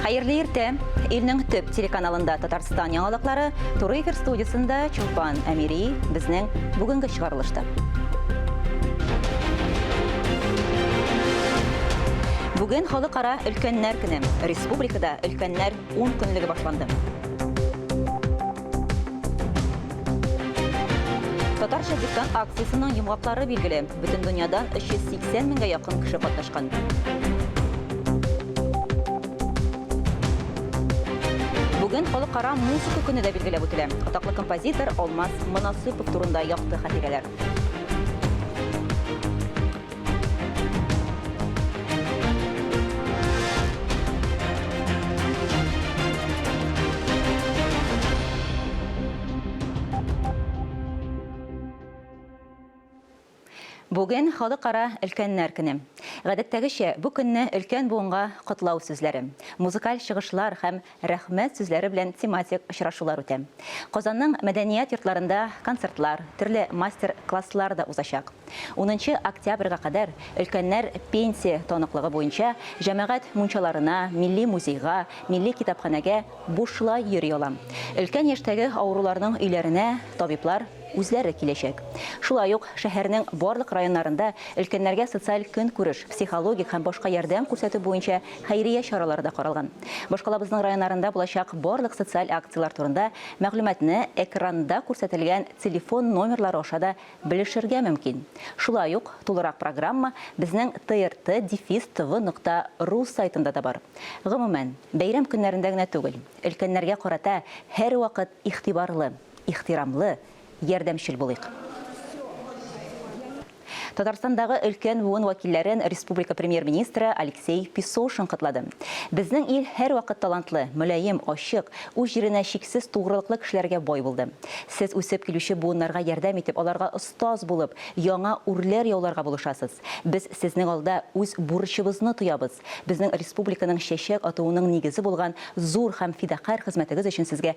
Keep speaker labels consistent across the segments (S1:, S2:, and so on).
S1: Хәерле иртә! Илнең төп телеканалында Татарстан яңалыклары туры эфир студиясендә Чулпан Әмири безнең бүгенге чыгарылышта. Бүген халыкара өлкәннәр көне. Республикада өлкәннәр 10 көнлеге башланды. Татарча диктант акциясенең йомгаклары билгеле. Бөтен дөньядан 380 меңгә якын кеше катнашкан. Бүген халыкара музыка көне дә билгеләп үтелә. Атаклы композитор Алмаз Монасыпов турында якты хатирәләр. Бүген халыкара өлкәннәр көне. Гадәттәгечә, бу көнне өлкән буынга котлау сүзләре, музыкаль чыгышлар һәм Рәхмәт сүзләре белән тематик очрашулар үтә. Казанның мәдәният йортларында концертлар, төрле мастер класслар да узачак. Унынчы октябрьгә кадәр өлкәннәр пенсия таныклыгы буенча җәмәгать мунчаларына, милли музейга, милли китапханәгә бушлай йөри ала. Өлкән яшьтәге авыруларның өйләренә табиблар, үзләре киләчәк. Шулай ук шәһәрнең барлык районнарында өлкәннәргә социаль көнкүреш, психологик һәм башка ярдәм күрсәтү буенча хәйрия чаралары да каралган. Башкалабызның районнарында булачак барлык социаль акцияләр турында мәгълүматны экранда күрсәтелгән телефон номерлары аша да белешергә мөмкин. Шулай ук тулырак программа безнең TRT дефис tv нокта ру сайтында да бар. Гомумән, бәйрәм көннәрендә генә түгел, өлкәннәргә карата һәрвакыт игътибарлы, ихтирамлы, ярдәмчел булыйк. Татарстандагы өлкән буын вәкилләрен республика Премьер-министры Алексей Песошин котлады. Безнең ил һәрвакыт талантлы, мөлаем, ачык, үз җиренә чиксез тугрылыклы кешеләргә бай булды. Сез үсеп килүче буыннарга ярдәм итеп, аларга остаз булып, яңа үрләр яуларга булышасыз. Без сезнең алда үз бурычыбызны тоябыз. Безнең республиканың чәчәк атуының нигезе булган зур һәм фидакарь хезмәтегез өчен сезгә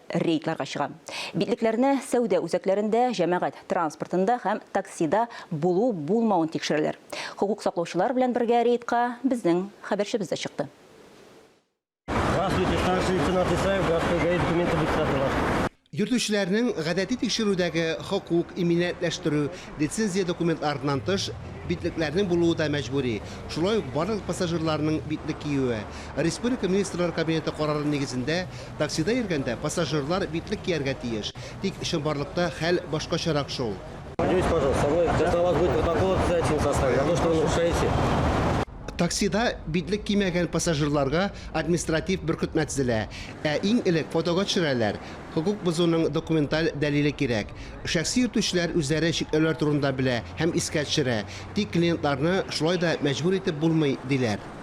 S1: рейдларга чыга. Битлекләрне сәүдә үзәкләрендә, җәмәгать транспортында һәм таксида булу-булмавын тикшерәләр. Хокук саклаучылар белән бергә рейдка безнең хәбәрчебез дә чыкты.
S2: Йөртүчеләрнең
S3: гадәти тикшерүдәге хокук, иминиятләштерү, лицензия документларыннан тыш, битлекләрнең булуы да мәҗбүри, шулай ук барлык пассажирларның битлек киюе, Республика Министрлар Кабинеты карары нигезендә, Таксида йөргәндә пассажирлар битлек кияргә тиеш. Тик чынбарлыкта хәл башкачарак шул. Поделитесь, пожалуйста, со
S2: мной, когда у вас будет протокол обязательно составлен за то, что вы нарушаете. Таксида
S3: битлек кимәгән пассажирларга административ беркетмә тезелә. Ә иң элек фотога төшерәләр. Хокук бозуның документаль дәлиле кирәк. Шәхси йөртүчеләр үзләре чикләүләр турында белә һәм искә төшерә. Тик клиентларны шулай да мәҗбүр итеп булмый, диләр.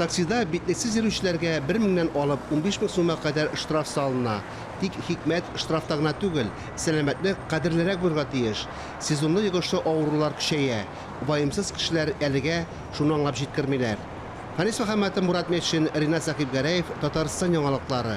S3: Таксида битлексез йөрүчеләргә бер меңнән алып унбиш мең сумга кадәр штраф салына. Тик хикмәт штрафта гына түгел, сәламәтне кадерлерәк булырга тиеш. Сезонлы йогышлы авырулар көчәя. Ваемсыз кешеләр әлегә шуны аңлап җиткермиләр. Фанис Мөхәммәтов, Мурат Метшин, Ринат Сәхибгәрәев, Татарстан яңалыклары.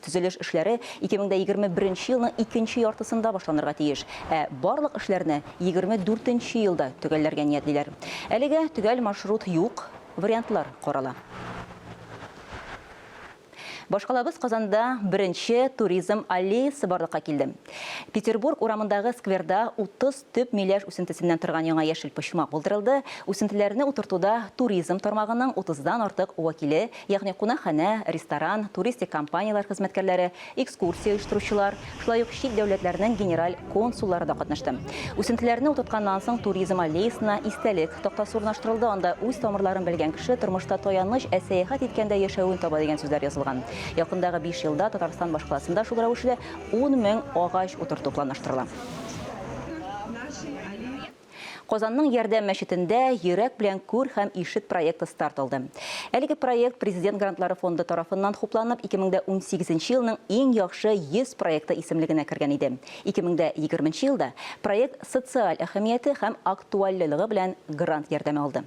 S1: Төзелеш эшләре 2021 нче елның икенче яртысында башланырга тиеш, ә барлык эшләрне 24 нче елда төгәлләргә ниятлиләр. Әлегә төгәл маршрут юк, вариантлар карала. Башкалабыз Казанда беренче туризм аллеясы барлыкка килде. Петербург урамындагы скверда 30 Төп миләш үсентесеннән торган яңа яшел почмак булдырылды, үсентеләрне утыртуда туризм тармагының утыздан артык вәкиле, ягъни кунакханә, ресторан, туристик компанияләр хезмәткәрләре, экскурсия оештыручылар, шулай ук чит дәүләтләрнең генераль консуллары да катнашты. Үсентеләрне утыртканнан соң туризм аллеясына истәлек тактасы урнаштырылды, анда үз тамырларын белгән кеше тормышта таяныч, ә сәяхәт иткәндә яшәвен таба дигән сүзләр язылган. Якындагы биш елда Татарстан башкаласында шул рәвешле ун мең агач утырту планлаштырыла. Казанның Ярдәм мәчетендә Йөрәк белән күр һәм ишет проекты старт алды. Әлеге проект Президент грантлары фонды тарафыннан хупланып, 2018 елның иң яхшы 100 проекты исемлегенә кергән иде. 2020 елда проект социаль әһәмияте һәм актуальлелыгы белән грант ярдәме алды.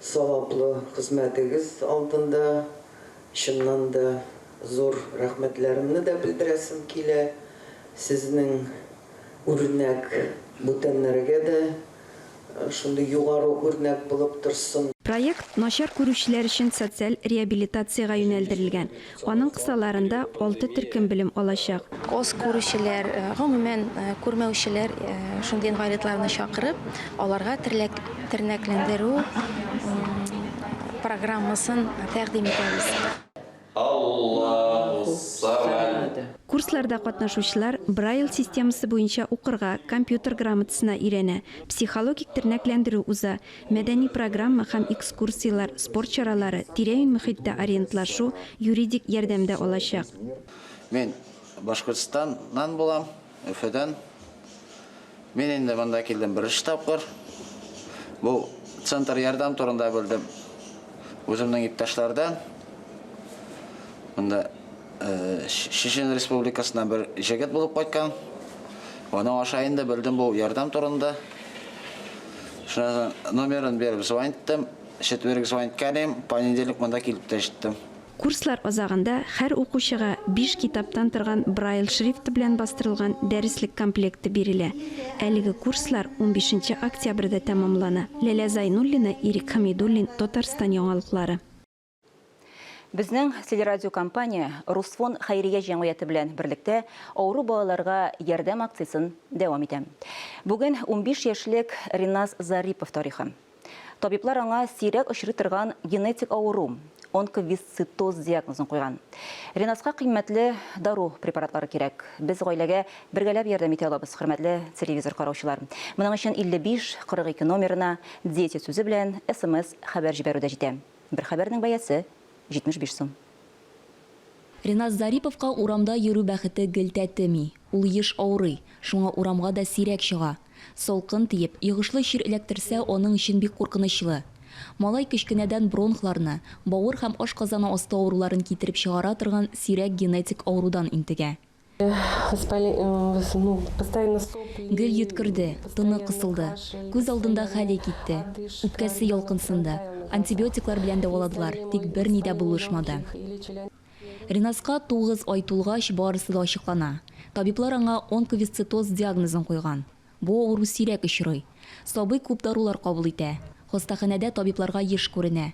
S4: саваплы хезмәтегез алдында чыннан да зур рәхмәтләремне дә белдерәсем килә. Сезнең үрнәк бүтәннәргә дә шундый югары үрнәк булып торсын. Проект начар
S5: күрүчеләр өчен социаль реабилитациягә юнәлдерелгән. Аның кысаларында алты төркем белем алачак. Аз күрүчеләр,
S6: гомумән, күрмәүчеләр, шундый инвалидларны чакырып, аларга тернәкләндерү программасын тәкъдим итәбез. Аллаһу-ссамад.
S5: Курсларда катнашучылар Брайль системасы буенча укырга, компьютер грамотасына өйрәнә, психологик тернәкләндерү уза, Мәдәни программа һәм экскурсияләр, спорт чаралары, тирә-юнь мөхиттә ориентлашу, юридик ярдәм дә алачак. Мин
S7: Башкортстаннан булам, Өфөдән. Мин инде монда килдем беренче тапкыр. Бу центр ярдәм турында белдем үземнең иптәшләрдән. Монда Чечен республикасыннан бер җегет булып кайткан. Аның аша инде белдем бу ярдәм турында. Шуңа номерын биреп звониттым. Четверг звониткәлим, понедельник монда килеп тә җиттем. Курслар азагында
S5: һәр укучыга биш китаптан торган Брайль шрифты белән бастырылган дәреслек комплекты бирелә. Әлеге курслар унбишенче октябрьдә тәмамлана. Ләлә Зайнуллина, Ирек Хәмидуллин, Татарстан яңалыклары.
S1: Безнең телерадиокомпания Русфон хәйрия җәмгыяте белән берлектә авыру балаларга ярдәм акциясен дәвам итә. Бүген 15 яшьлек Риназ Зарипов тарихы. Табиблар аңа сирәк очрый торган генетик авыру, онковисцитоз диагнозын куйган. Риназга кыйммәтле дару препаратлары кирәк. Без гаиләгә бергәләп ярдәм итә алабыз, хөрмәтле телевизор караучылар. Моның өчен 55 42 номерына Дети сүзе белән смс хәбәр җибәрү дә җитә. Бер хәбәрнең бәясе, 75 сум.
S8: Ринас Зариповка урамда йөрү бәхете гел тәтеми. Ул еш авырый, шуңа урамга да сирәк чыга. Салкын тиеп, йогышлы чир эләктерсә, аның өчен бик куркынычлы. Малай кечкенәдән бронхларны, бавыр һәм ашказаны асты авыруларын китереп чыгара торган сирәк генетик авырудан интегә. Гел йөткерде, тыны кысылды, күз алдында хәле китте, үпкәсе йолкынсынды, антибиотиклар белән дәваладылар, тик берни дә булышмады. Ренаска тугыз ай тулгач, барысы да ачыклана. Табиблар аңа онковисцитоз диагнозын куйган. Бу авыру сирәк очрый. Сабый күп дарулар кабул итә. Хастаханәдә табибларга еш күренә.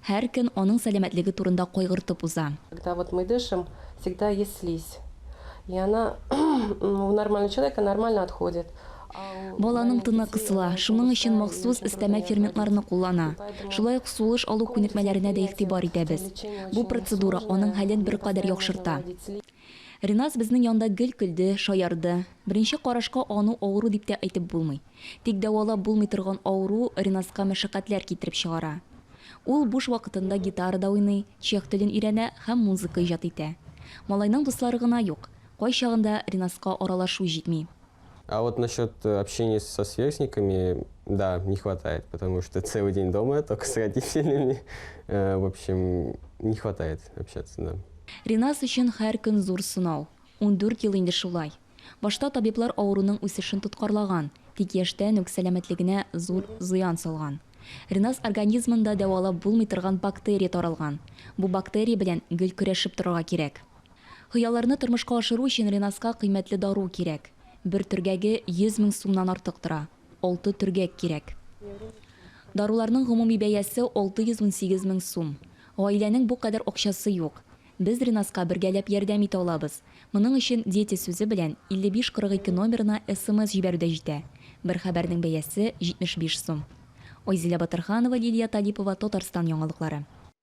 S8: Һәр көн аның сәламәтлеге турында кайгыртып уза. Когда вот мы дышим,
S9: всегда есть слизь. И она у нормального человека нормально отходит. Баланың
S8: тыны кысыла, шуның өчен махсус өстәмә ферментларны куллана. Шулай ук сулыш алу күнекмәләренә дә игътибар итәбез. Бу процедура аның хәлен беркадәр яхшырта. Риназ безнең янда гел көлде, шаярды. Беренче карашка аны авыру дип тә әйтеп булмый. Тик дәвалап булмый торган авыру Риназка мәшәкатьләр китереп чыгара. Ул буш вакытында гитарада уйный, чех телен өйрәнә һәм музыка иҗат итә. Малайның дуслары гына юк. Кайчагында Риназка аралашу җитми. А вот насчет
S2: э, общения со сверстниками, да, не хватает, потому что целый день дома, только с родителями. Э, в общем, не хватает общаться,
S8: да.
S2: Ринас
S8: өчен һәр көн зур сынау. 14 ел
S2: инде
S8: шулай. Башта табиблар авыруның үсешен тоткарлаган, тик яшьтән үк сәламәтлегенә зур зыян салган. Ринас организмында дәвалап булмый торган бактерия таралган. Бу бактерия белән гел көрәшеп торырга кирәк. Хыялларны тормышка ашыру өчен Ренаска кыйммәтле дару кирәк. Бер төргәге 100 мең сумнан артык тора. Алты төргәк кирәк. Даруларның гомуми бәясе 618 мең сум. Гаиләнең бу кадәр акчасы юк. Без Ренаска бергәләп ярдәм итә алабыз. Моның өчен Дети сүзе белән 5542 номерына смс җибәрү дә җитә. Бер хәбәрнең бәясе 75 сум. Айзилә Батырханова, Лилия Талипова, Татарстан яңалыклары.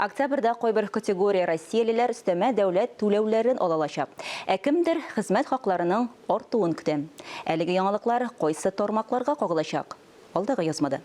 S1: Октябрьдә кайбер категория россиялеләр өстәмә дәүләт түләүләрен ала алачак, ә кемдер хезмәт хакларының артуын көтә. Әлеге яңалыклар кайсы тармакларга кагылачак? Алдагы язмада.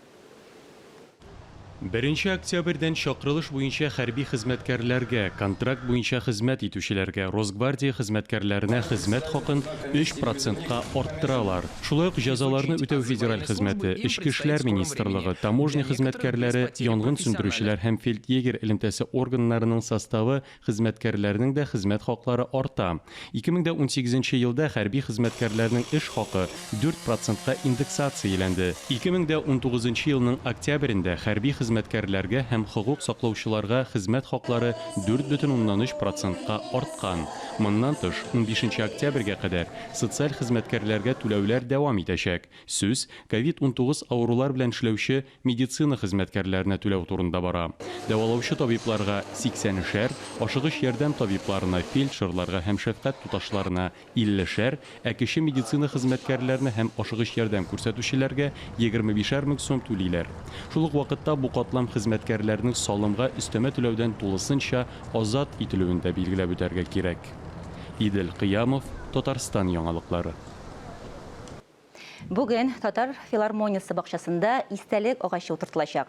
S10: Беренче октябрьдән чакырылыш буенча хәрби хезмәткәрләргә, контракт буенча хезмәт итүчеләргә, Росгвардия хезмәткәрләренә хезмәт хакын өч процентка арттыралар. Шулай ук җәзаларны үтәү федераль хезмәте, Эчке эшләр министрлыгы, таможня хезмәткәрләре, янгын сүндерүчеләр һәм фельдъегерь элемтәсе органнарының составы хезмәткәрләренең дә хезмәт хаклары арта. Ике мең дә унсигез нче елда хәрби хезмәткәрләрнең эш хакы дүрт процентка индексацияләнде. Ике мең дә унтугыз нчы елның октябрендә хәрби хезмәткәрләргә һәм хокук саклаучыларга хезмәт хаклары дүрт бөтен уннан өч процентка арткан. Моннан тыш, унбишенче октябрьгә кадәр социаль хезмәткәрләргә түләүләр дәвам итәчәк. Сүз ковид унтугыз авырулар белән эшләүче медицина хезмәткәрләренә түләү турында бара. Дәвалаучы табибларга, сиксәнешәр, ашыгыч ярдәм табибларына, фельдшерларга һәм шәфкать туташларына, иллешәр, Ә кече медицина хезмәткәрләренә һәм ашыгыч ярдәм күрсәтүчеләргә егерме бишәр мең сум түлиләр. Шул ук вакытта бу катлам хезмәткәрләренең салымга өстәмә түләүдән тулысынча азат ителүен дә билгеләп үтәргә кирәк. Идел Кыямов, Татарстан яңалыклары.
S1: Бүген Татар филармониясе бакчасында истәлек агачы утыртылачак.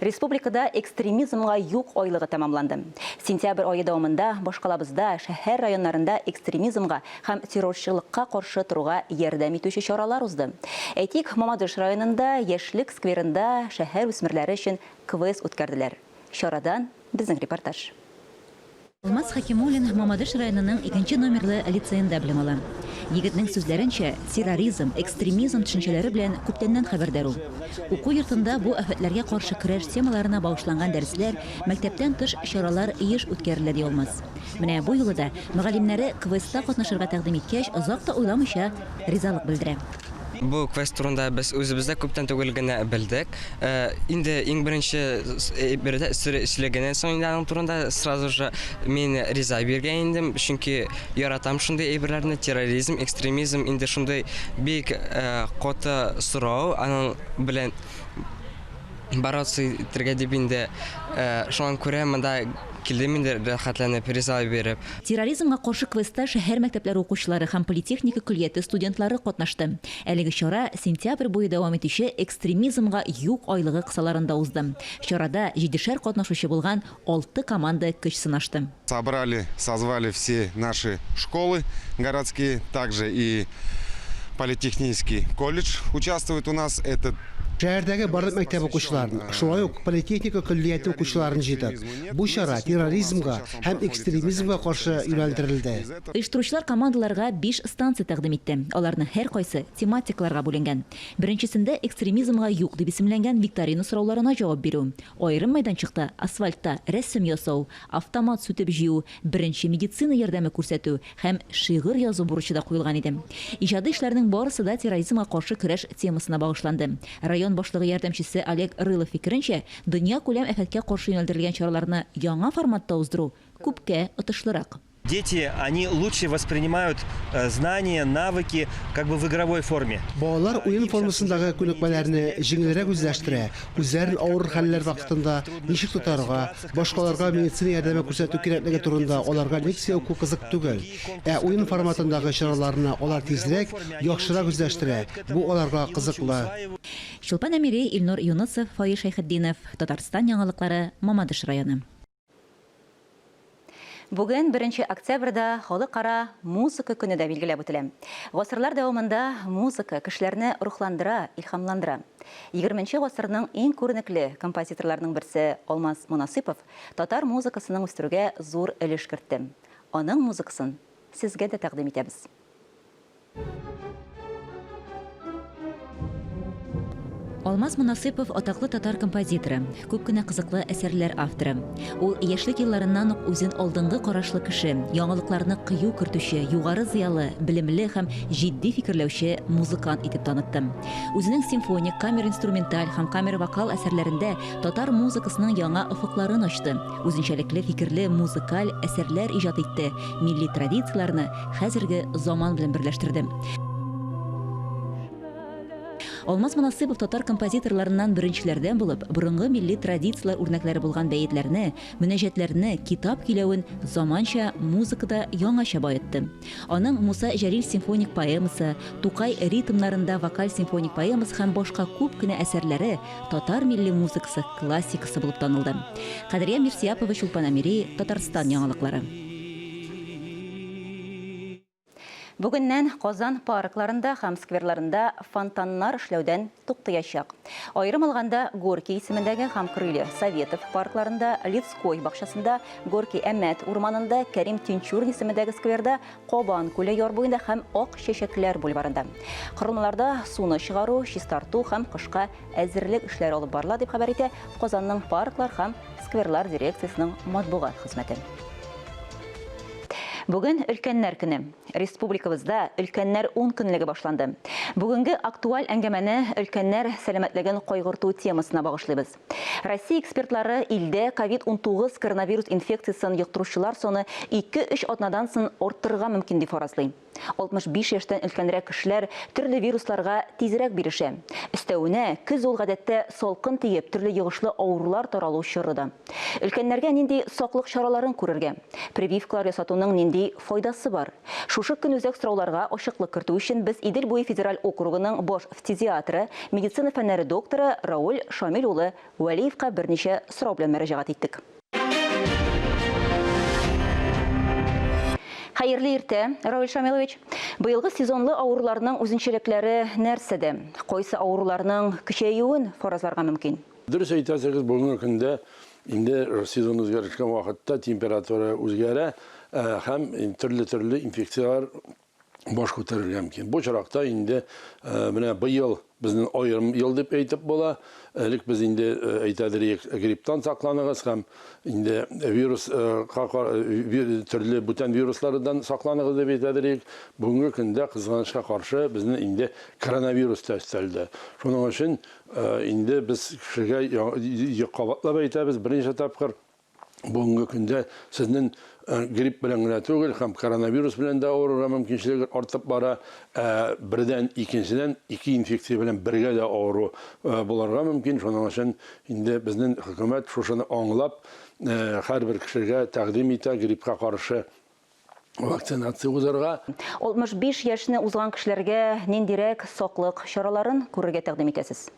S1: Республикада экстремизмга юк айлыгы тәмамланды. Сентябрь ае дәвамында башкалабызда шәһәр районнарында экстремизмга һәм террорчылыкка каршы торуга ярдәм итүче чаралар узды. Әйтик, Мамадыш районында Яшьлек скверында шәһәр үсмерләре өчен квест үткәрделәр. Чарадан Безнең репортаж. Алмаз
S11: Хәкимуллин Мамадыш районының икенче номерлы лицеенда белем ала. Егетнең сүзләренчә, терроризм, экстремизм төшенчәләре белән күптәннән хәбәрдар ул. Уку йортында бу афәтләргә каршы көрәш темаларына багышланган дәресләр, мәктәптән тыш чаралар еш үткәрелә, ди Алмаз. Менә бу юлы да мөгаллимнәре квестта катнашырга тәкъдим иткәч, озак та уйламыйча ризалык белдерә. Бу квест
S12: турында без үзебез дә күптән түгел генә белдек. Инде иң беренче бирдә сер эшләгәннән соң инде аның турында сразу же мин риза биргән идем, чөнки яратам шундый әйберләрне, терроризм, экстремизм инде шундый бик каты сорау, аның белән бороться итәргә дип инде, шуңа күрә монда килдем инде рәхәтләнеп, призлар биреп. Терроризмга каршы
S11: квестта шәһәр мәктәпләре укучылары һәм политехника көллияте студентлары катнашты. Әлеге чара сентябрь буе дәвам итүче Экстремизмга юк айлыгы кысаларында узды. Чарада җидешәр катнашучы булган Алты команда көч сынашты. Собрали, созвали
S13: все наши школы городские, также и политехнийский колледж участвует у нас, это. Шәһәрдәге барлык
S3: мәктәп укучыларын, шулай ук политехника көллияте укучыларын җыйдык. Бу чара терроризмга һәм экстремизмга каршы юнәлдерелде. Оештыручылар
S11: командаларга биш станция тәкъдим итте. Аларның һәркайсы тематикаларга бүленгән. Беренчесендә экстремизмга юк дип исемләнгән викторина сорауларына җавап бирү, Аерым мәйданчыкта асфальтта рәсем ясау, автомат сүтеп җыю, беренче медицина ярдәме күрсәтү һәм шигырь язу бурычы да куелган иде. Иҗади эшләрнең барысы да терроризмга каршы көрәш темасына багышланды. Район башлыгы ярдәмчесе Олег Рылов фикеренчә, дөньякүләм афәткә каршы юнәлдерелгән чараларны яңа форматта уздыру күпкә отышлырак. Дети, они
S14: лучше воспринимают знания, навыки как бы в игровой форме. Балалар уен
S3: формасындагы күнекмәләрне җиңелрәк үзләштерә, үзләрен авыр хәлләр вакытында ничек тотарга, башкаларга медицина ярдәме күрсәтү кирәклеге турында аларга лекция уку кызык түгел. Ә уен форматындагы чараларны алар тизрәк, яхшырак үзләштерә, бу аларга кызыклы. Чулпан Әмири,
S11: Илнур Юнысов, Фаил Шәйхетдинов, Татарстан яңалыклары, Мамадыш районы.
S1: Бүген, беренче октябрьдә, Халыкара музыка көне дә билгеләп үтелә. Гасырлар дәвамында музыка кешеләрне рухландыра, илһамландыра. Егерменче гасырның иң күренекле композиторларының берсе Алмаз Монасыйпов татар музыкасының үстерүгә зур өлеш кертте. Аның музыкасын сезгә дә тәкъдим итәбез.
S11: Алмаз Монасыйпов атаклы татар композиторы, күп кенә кызыклы әсәрләр авторы. Ул яшьлек елларыннан ук үзен алдынгы карашлы кеше, яңалыкларны кыю кертүче, югары зыялы, белемле һәм җитди фикерләүче музыкант итеп танытты. Үзенең симфоник, камер-инструменталь һәм камер-вокал әсәрләрендә татар музыкасының яңа офыкларын ачты. Үзенчәлекле фикерле музыкаль әсәрләр иҗат итте, милли традицияләрне хәзерге заман белән берләштерде. Алмаз Монасыйпов татар композиторларыннан беренчеләрдән булып, борынгы милли традицияләр үрнәкләре булган бәетләрне, мөнәҗәтләрне, китап киләвен заманча музыкада яңача баетты. Аның Муса Җәлил симфоник поэмасы, Тукай ритмнарында вокаль симфоник поэмасы һәм башка күп кенә әсәрләре татар милли музыкасы классикасы булып танылды. Кадрия Мирсиапова Чулпан Амири, Татарстан яңалыклары.
S1: Бүгеннән Казан паркларында һәм скверларында фонтаннар эшләүдән туктыячак. Аерым алганда, Горький исемендәге һәм Крылья Советов паркларында, Лицкой бакчасында, Горький Әмәт урманында, Кәрим Тинчурин исемендәге скверда Кабан күле яр буенда һәм Ак чәчәкләр бульварында. Корылмаларда суны чыгару, чистарту һәм кышка әзерлек эшләре алып барыла, дип хәбәр итә Казанның парклар һәм скверлар дирекциясенең матбугат хезмәте. Бүген өлкәннәр көне. Республикабызда өлкәннәр ункөнлеге башланды. Бүгенге актуаль әңгәмәне өлкәннәр сәламәтлеген кайгырту темасына багышлыйбыз. Россия экспертлары илдә ковид-унтугыз коронавирус инфекциясен йоктыручылар саны ике-өч атнадан сон арттырырга мөмкин дип фаразлый. 65 яшьтән өлкәнрәк кешеләр төрле вирусларга тизрәк бирешә. Өстәвенә, көз ул гадәттә салкын тиеп, төрле йогышлы авырулар таралу чоры да. Өлкәннәргә нинди саклык чараларын күрергә? Прививкалар ясатуның нинди файдасы бар? Шушы көнүзәк сорауларга ачыклык кертү өчен без Идел буе федераль округының баш фтизиатры, медицина фәннәре докторы Рауль Шамил улы Вәлиевка берничә сорау белән мөрәҗәгать иттек. Хәерле иртә, Рауль Шамилович! Быелгы сезонлы авыруларның үзенчәлекләре нәрсәдә? Кайсы авыруларның көчәюен фаразларга мөмкин? Дөрес әйтәсегез,
S15: бүгенге көндә инде сезон үзгәрешкән вакытта температура үзгәрә һәм төрле-төрле инфекцияләр баш күтәрергә мөмкин. Бу чоракта инде менә быел безнең аерым ел дип әйтеп була. Элек без инде әйтәдер идек, грипптан сакланыгыз һәм инде вирус төрле бүтән вируслардан сакланыгыз дип әйтәдер идек. Бүгенге көндә кызганычка каршы безнең инде коронавирус та өстәлде. Шуның өчен Инде без кешегә кабатлап әйтәбез, берничә тапкыр бүгенге көндә сезнен грипп белән генә түгел, һәм коронавирус белән дә авырырга мөмкинчелегер артып бара, ә бердән, икенчедән, ике инфекция белән бергә дә авыру булырга мөмкин, шуның өчен инде безнен хөкүмәт шушыны аңлап, һәрбер кешегә тәкъдим итә гриппка каршы. вакцинация узарга. 65
S1: яшьне узган кешеләргә ниндирәк саклык чараларын күрергә тәкъдим итәсез?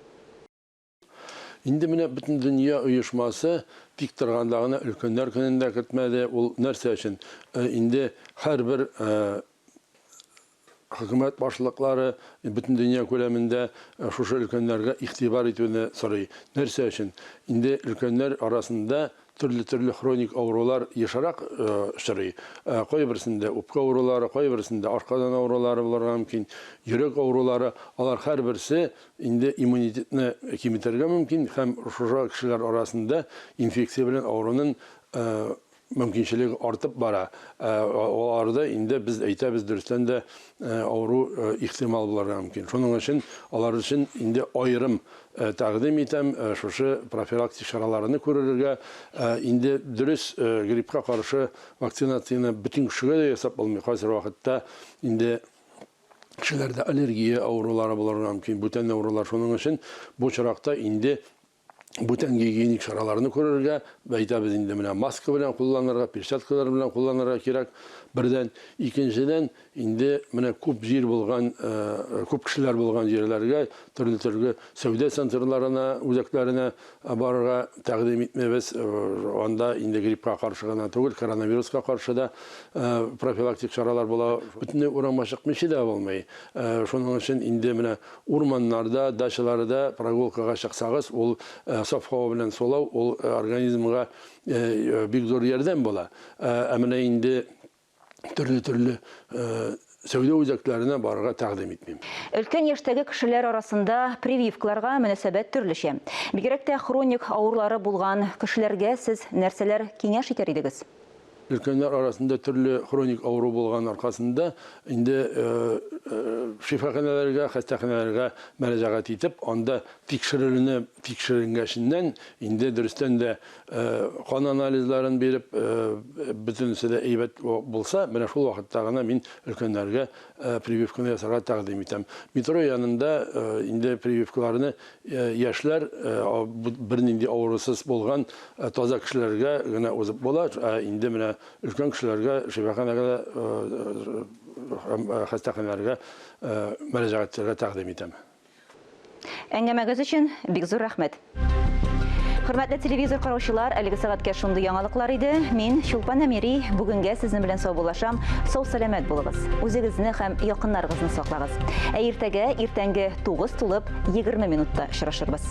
S15: Инде менә Бөтендөнья оешмасы тик торганда гына Өлкәннәр көнен дә кертмәде. Ул нәрсә өчен? Инде һәрбер Хөкүмәт башлыклары бөтендөнья күләмендә шушы өлкәннәргә игътибар итүне сорый. Нәрсә өчен? Инде өлкәннәр арасында төрле-төрле хроник авырулар ешрак очрый. Кайберсендә үпкә авырулары, кайберсендә ашказан авырулары булырга мөмкин, йөрәк авырулары. Алар һәрберсе инде иммунитетны киметергә мөмкин һәм шушы кешеләр арасында инфекция белән авырунын мөмкинчелеге артып бара, ә аларда инде без әйтәбез, дөрестән дә авыру ихтимал булырга мөмкин. Шуның өчен алар өчен инде аерым тәкъдим итәм шушы профилактик чараларны күререргә. Инде дөрес гриппка каршы вакцинацияне бөтен кешегә дә ясап булмый, кайсыр вакытта инде кешеләрдә аллергия авырулары булырга мөмкин, бүтән авырулар. Шуның өчен бу очракта инде бүтән гигиеник чараларны күрергә, әйтәбез инде, менә маска белән кулланырга, перчаткалар белән кулланырга кирәк, бердән. Икенчедән, инде менә күп җир булган, күп кешеләр булган җирләргә, төрле-төрле сәүдә центрларына, үзәкләренә барырга тәкъдим итмибез. Анда инде гриппка каршы гына түгел, коронавируска каршы да профилактик чаралар була. Бөтенләй урамга чыкмыйча да булмый. Шуның өчен инде менә Урманнарда, дачаларда прогулкага чыксагыз, ул саф һава белән сулау, ул организмга бик зур ярдәм була. Ә менә инде төрле-төрле сәүдә үзәкләренә барырга тәкъдим итмим. Өлкән яшьтәге
S1: кешеләр арасында прививкаларга мөнәсәбәт төрлечә. Бигрәк тә хроник авырулары булган кешеләргә сез нәрсәләр киңәш итәр идегез? Өлкәннәр
S15: арасында төрле хроник авыру булган аркасында инде шифаханәләргә, хастаханәләргә мәрәҗәгать итеп, анда тикшерелүне тикшеренгәченнән инде дөрестән дә кан анализларын биреп, бөтенесе дә әйбәт булса, менә шул вакытта гына мин өлкәннәргә прививканы ясарга тәкъдим итәм. Метро янында инде прививкаларны Яшьләр бернинди авырусыз булган таза кешеләргә генә узып була, ә инде менә өлкән кешеләргә шифаханәгә һәм хастаханәләргә мөрәҗәгать итәргә тәкъдим итәм.
S1: Әңгәмәгез өчен бик зур рәхмәт! Хөрмәтле телевизор караучылар, әлеге сәгатькә шундый яңалыклар иде. Мин, Чулпан Әмири, бүгенгә сезнең белән саубуллашам, сау-сәламәт булыгыз, үзегезне һәм якыннарыгызны саклагыз! Ә иртәгә иртәнге тугыз тулып егерме минутта очрашырбыз.